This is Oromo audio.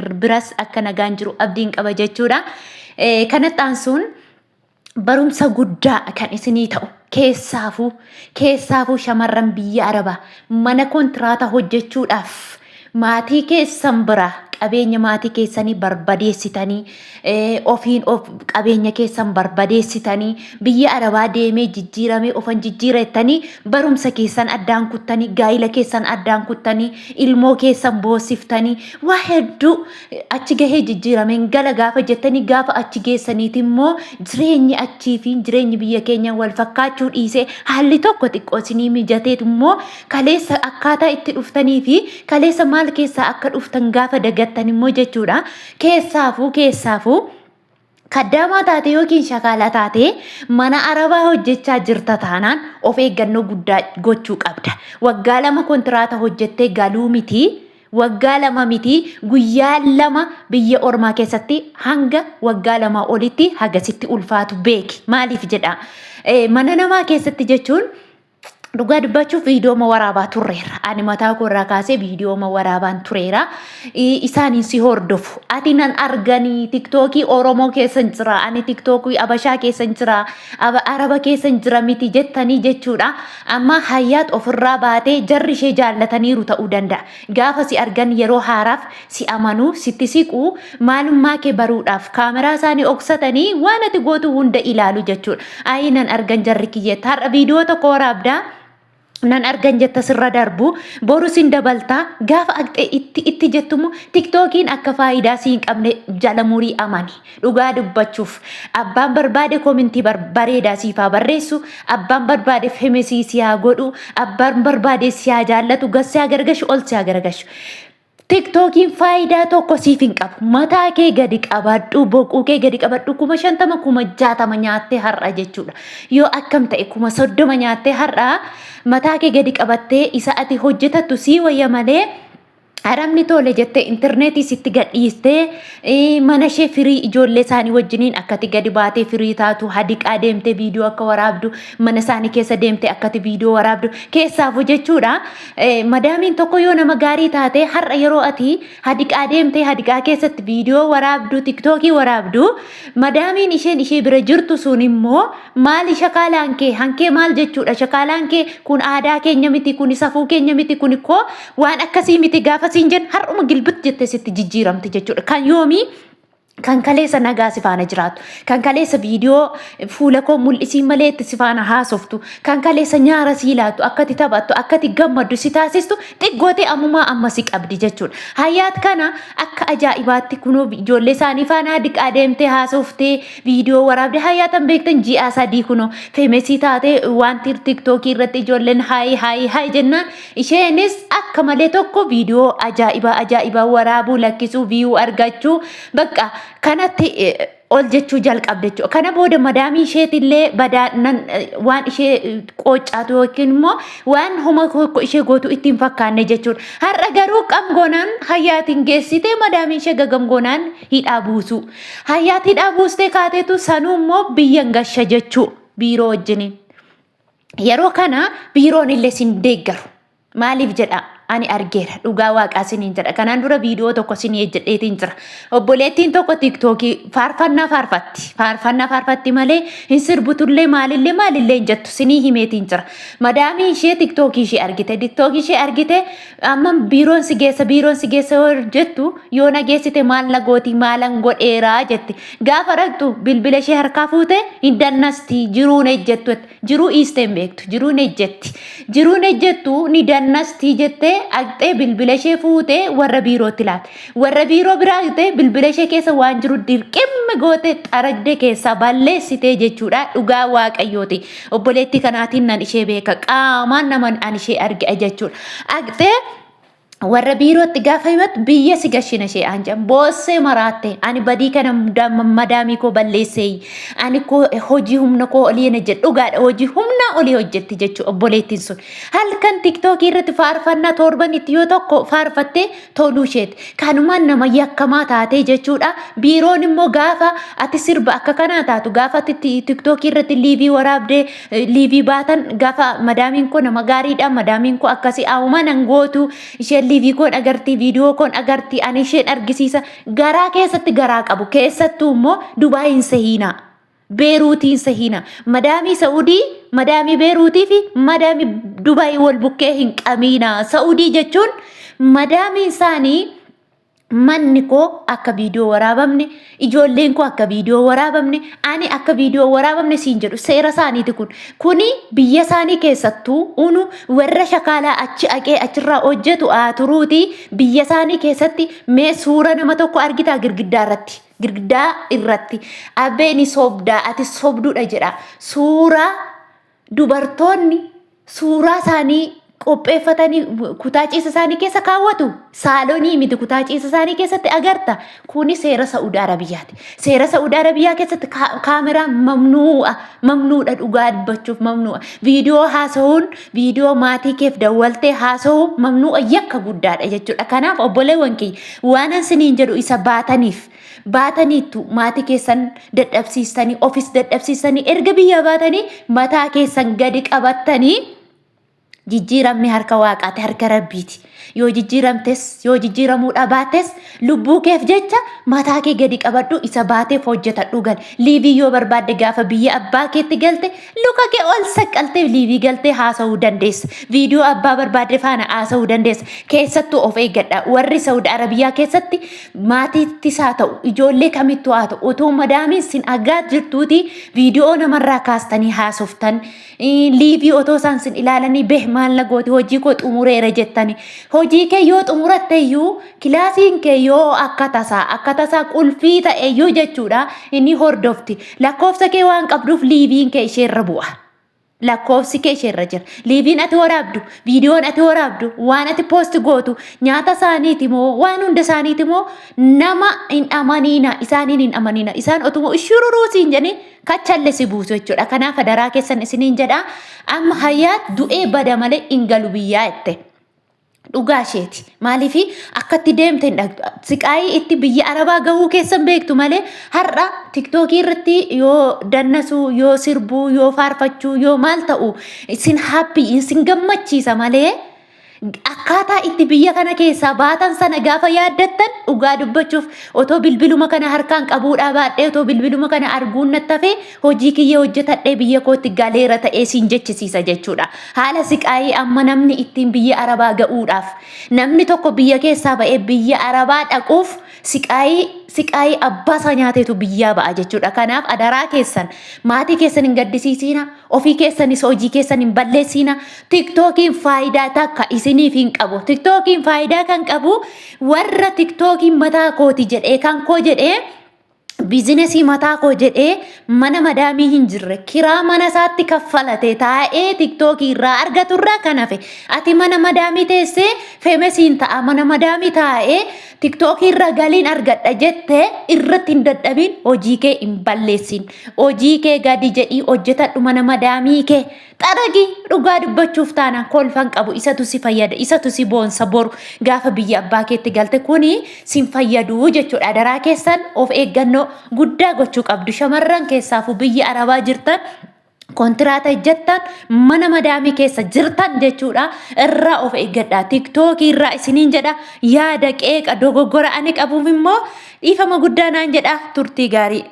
biras akka nagaan jiru abdiin qaba jechuudha. Kanatti aansuun barumsa guddaa kan isinii ta'u keessaafuu keessaafuu shamarran biyya arabaa mana kontiraata hojjechuudhaaf maatii keessan biraa qabeenya maatii keessanii barbadeessitanii ofiin of qabeenya keessan barbadeessitanii biyya arabaa deemee jijjiiramee ofan jijjiira jettanii barumsa keessan addaan kuttanii gaa'ila keessan addaan kuttanii ilmoo keessan boosiftanii waa hedduu achi gahee jijjiirameen gala gaafa jettanii gaafa achi geessaniiti immoo jireenyi achii fi jireenyi biyya keenya wal fakkaachuu dhiisee haalli tokko xiqqoo isinii mijateet immoo kaleessa akkaataa itti dhuftanii fi kaleessa maal keessaa akka dhuftan gaafa dagattan immoo jechuudha. Keessaafuu keessaafuu kaddaamaa taatee yookiin shakaalaa taatee mana arabaa hojjechaa jirta taanaan of eeggannoo guddaa gochuu qabda. Waggaa lama kontiraata hojjettee galuu miti waggaa lama miti guyyaa lama biyya ormaa keessatti hanga waggaa lama olitti hagasitti ulfaatu beeki. Maaliif jedha mana namaa keessatti jechuun Dhugaa dubbachuuf viidiyooma waraabaa turreera. Ani mataa koo irraa kaasee viidiyooma waraabaan tureera. Isaaniin si hordofu. Ati nan arganii tiktookii Oromoo keessa hin jira. Ani tiktookii Abashaa keessa hin jira. Araba keessa hin jira miti jettanii jechuudha. Amma hayyaat ofirraa baatee jarri ishee jaallataniiru ta'uu danda'a. Gaafa si argan yeroo haaraaf si amanu, sitti siqu, maalummaa kee baruudhaaf kaameraa isaanii oksatanii waan ati gootu hunda ilaalu jechuudha. Ayii nan argan jarri kiyyeetta. Har'a viidiyoo tokko waraabda. nan argan jetta sirra darbu boru sin dabalta gaafa aqxe itti itti jettumu tiktookiin akka faayidaa siin qabne jala murii amani Dhugaa dubbachuuf abbaan barbaade komintii bareedaa siif haa barreessu abbaan barbaade femesii si haa godhu abbaan barbaade si haa jaallatu gad si haa garagashu ol si haa garagashu. Tiktookiin faayidaa tokko siif hin qabu mataa kee gadi qabadhu boquu kee gadi qabadhu kuma shantama kuma jaatama nyaattee har'a jechuudha yoo akkam ta'e kuma soddoma nyaattee har'a mataa kee gadi qabattee isa ati hojjetattu sii wayya malee. Arabni tole jettee intarneetii sitti gadhiistee eh, mana ishee firii ijoollee isaanii wajjiniin akkati gadi baatee firii taatu hadiqaa deemtee viidiyoo akka waraabdu mana isaanii keessa deemtee akkati viidiyoo waraabdu keessaafu jechuudha. Eh, Madaamiin tokko yoo nama gaarii taate har'a yeroo ati hadiqaa deemtee hadiqaa keessatti viidiyoo waraabdu tiktookii waraabdu madaamiin isheen ishee bira jirtu sun immoo Maali shakaalaan kee? Hankee maal jechuudha? Shakaalaan kee kun aadaa keenya miti, kun safuu keenya miti, kun koo waan akkasii miti gaafa siin jennu har'uma gilbit jettee sitti jijjiiramti jechuudha. Kan yoomii kan kaleessa nagaa si faana jiraatu, kan kaleessa viidiyoo fuula koo mul'isiin malee itti si faana haasoftu, kan kaleessa nyaara sii laatu, akkati taphattu, akkati gammaddu si taasistu xiggootee ammumaa amma si qabdi jechuudha. Hayyaat kana akka ajaa'ibaatti kunoo ijoollee isaanii faana diqaa deemtee haasoftee Viidiyoo waraabde hayaatan beektan ji'aa sadii kunoo feemesii taatee wanti tiktookii irratti ijoolleen haayii haayii haayii jennaan isheenis akka malee tokko viidiyoo ajaa'ibaa ajaa'ibaa waraabuu lakkisuu viiyuu argachuu bakka kanatti ol jechuu jalqabde jechuudha. Kana booda madaamii isheetillee badaa waan ishee qooccaatu yookiin immoo waan homa tokko ishee gootu itti hin fakkaanne jechuudha. Har'a garuu qamgoonaan hayyaatiin geessitee madaamii ishee gagamgoonaan hidhaa buusuu. Hayyaatti hidhaa buustee kaateetu sanuu immoo biyyan gasha jechuu biiroo wajjiniin. Yeroo kana biiroon illee sin deeggaru. Maaliif jedha ani argeera dhugaa waaqaa siniin jedha kanaan dura viidiyoo tokko sinii ejjedheetiin jira. Obboleettiin tokko tiiktookii faarfannaa faarfatti faarfannaa faarfatti malee hin sirbutullee maalillee maalillee hin jettu sinii himeetiin jira. Madaamii ishee tiiktookii ishee argite tiiktookii ishee argite Amma biiroon si geessa biiroon si geessa yoo jettu yoo na geessite maal na gooti maalan godheeraa jette gaafa dhaqxu bilbila ishee harkaa fuute hin dannasti jiruun ejjettu jiruu iistee hin beektu jiruun ejjetti jiruun ejjettu ni dannasti jettee dhaqxee bilbila ishee fuute warra biirootti laate warra biiroo biraa dhaqxee bilbila ishee keessa waan jiru dirqimmi goote xaragdee keessaa balleessitee jechuudha dhugaa waaqayyooti Obboleettii kanaatiin nan ishee beeka. Qaamaan nama an ishee arge jechuudha. Dhaqxee warra biirootti gaafa himattu biyya si gashina ishee aan jedhan boossee maraatte ani badii kana madaamii koo balleessee ani koo hojii humna koo olii hin hojjedhe dhugaadha hojii humna olii hojjetti jechuu obboleettiin sun halkan tiktookii irratti faarfannaa torban itti yoo tokko faarfattee toluu isheeti. Kanumaan nama yakkamaa taatee jechuudha. Biiroon immoo gaafa ati sirba akka kanaa taatu gaafa ati tiktookii irratti liivii waraabdee liivii baatan gaafa madaamiin koo nama gaariidha madaamiin koo akkasii haawumaa nan gootu isheen liivii koon agartii viidiyoo koon agartii ani isheen argisiisa garaa keessatti garaa qabu keessattuu immoo dubaayiin sehiinaa. Beeruutiin sahiina. Madaamii Sa'udii, madaamii Beeruutii fi madaamii Dubaay wal bukkee hin qabiina. Sa'udii jechuun madaamiin isaanii manni koo akka viidiyoo waraabamne, ijoolleen koo akka viidiyoo waraabamne, ani akka viidiyoo waraabamne siin jedhu seera isaaniiti kun. Kuni biyya isaanii keessattuu unu warra shakaalaa achi aqee achirraa hojjetu haa turuuti biyya isaanii keessatti mee suura nama tokko argitaa girgiddaa irratti. girgdaa irratti abbee ni sobdaa ati sobduudha jedha suuraa dubartoonni suuraa isaanii qopheeffatanii kutaa ciisa isaanii keessa kaawwatu saalonii miti kutaa ciisa isaanii keessatti agarta kuni seera sa'uudi arabiyyaati seera sa'uudi arabiyyaa keessatti kaameraa mamnuu'a mamnuudha dhugaa dubbachuuf mamnuu'a viidiyoo haasa'uun viidiyoo maatii keef dawwaltee haasa'uu mamnuu'a yakka guddaadha jechuudha. Kanaaf obboleewwan kiyya waanan siniin jedhu isa baataniif baataniittu maatii keessan dadhabsiistanii ofis dadhabsiistanii erga biyyaa baatanii mataa keessan gadi qabattanii jijjiiramni harka waaqaati harka rabbiiti. Yoo jijjiiramtes yoo jijjiiramuu dhabaattes lubbuu keef jecha mataa kee gadi qabadhu isa baateef hojjetadhu gal. Liivii yoo barbaadde gaafa biyya abbaa keetti galte luka kee ol saqqaltee liivii galtee haasa'uu dandeessa. Viidiyoo abbaa barbaadde faana haasa'uu dandeessa. Keessattuu of eeggadha. Warri Saudi Arabiyaa keessatti maatiittis haa ta'u ijoollee kamittuu haa ta'u utuu madaamiin sin agaa jirtuutii viidiyoo namarraa kaastanii haasoftan liivii otoo isaan sin ilaalanii beh maal na gooti hojii koo xumureera jettani. Hojii kee yoo xumuratte iyyuu kilaasiin kee yoo akka tasaa akka tasaa qulfii ta'e iyyuu jechuudha inni hordofti. Lakkoofsa kee waan qabduuf liiviin kee isheerra bu'a. Lakkoofsi kee isheerra jira. Liiviin ati waraabdu, viidiyoon ati waraabdu, waan ati poosti gootu, nyaata isaaniiti moo waan hunda isaaniiti moo nama hin amaniina isaaniin hin amaniina isaan otuma ishururuu siin jedhanii kachalle si buusu jechuudha. Kanaaf adaraa keessan isiniin jedha amma hayyaat du'ee bada malee hin galu biyyaa jette. Dhugaa isheeti. Maaliif akkatti deemte hin dhagdu. Siqaayii itti biyya arabaa gahuu keessan beektu malee har'a tiktookii irratti yoo dannasuu, yoo sirbuu, yoo faarfachuu, yoo maal ta'u isin haappii isin gammachiisa malee akkaataa itti biyya kana keessaa baatan sana gaafa yaaddattan dhugaa dubbachuuf otoo bilbiluma kana harkaan qabuudhaa baadhee otoo bilbiluma kana arguun nattafee hojii kiyya hojjetadhee biyya kootti galeera ta'ee siin jechisiisa jechuudha. Haala siqaayii amma namni ittiin biyya arabaa ga'uudhaaf namni tokko biyya keessaa ba'ee biyya arabaa dhaquuf siqaayii siqaayii abbaa isaa nyaateetu biyyaa ba'a jechuudha. Kanaaf adaraa keessan maatii keessan hin gaddisiisiina. Ofii keessanis hojii keessan hin balleessiina. Tiktookiin faayidaa takka isiniif hin qabu. Tiktookiin faayidaa kan qabu warra tiktookiin mataa kooti jedhee kan koo jedhee biizinesii mataa koo jedhee mana madaamii hin jirre kiraa mana isaatti kaffalate taa'ee tiktookii irraa argatu irraa kan hafe ati mana madaamii teessee feemesiin ta'a mana madaamii taa'ee tiktookii irra galiin argadha jette irratti hin dadhabiin hojii kee hin balleessiin. Hojii kee gadi jedhii hojjetadhu mana madaamii kee xaragi dhugaa dubbachuuf taanaan kolfan qabu isatu si fayyada isatu si boonsa boru gaafa biyya abbaa keetti galte kuni sin fayyadu jechuudha daraa keessan of eeggannoo guddaa gochuu qabdu shamarran keessaafuu biyya arabaa jirtan kontiraata hojjettan mana madaamii keessa jirtan jechuudha irraa of eeggadha tiktookii irraa isiniin jedha yaada qeeqa dogoggora ani qabuuf immoo dhiifama guddaa naan jedha turtii gaarii.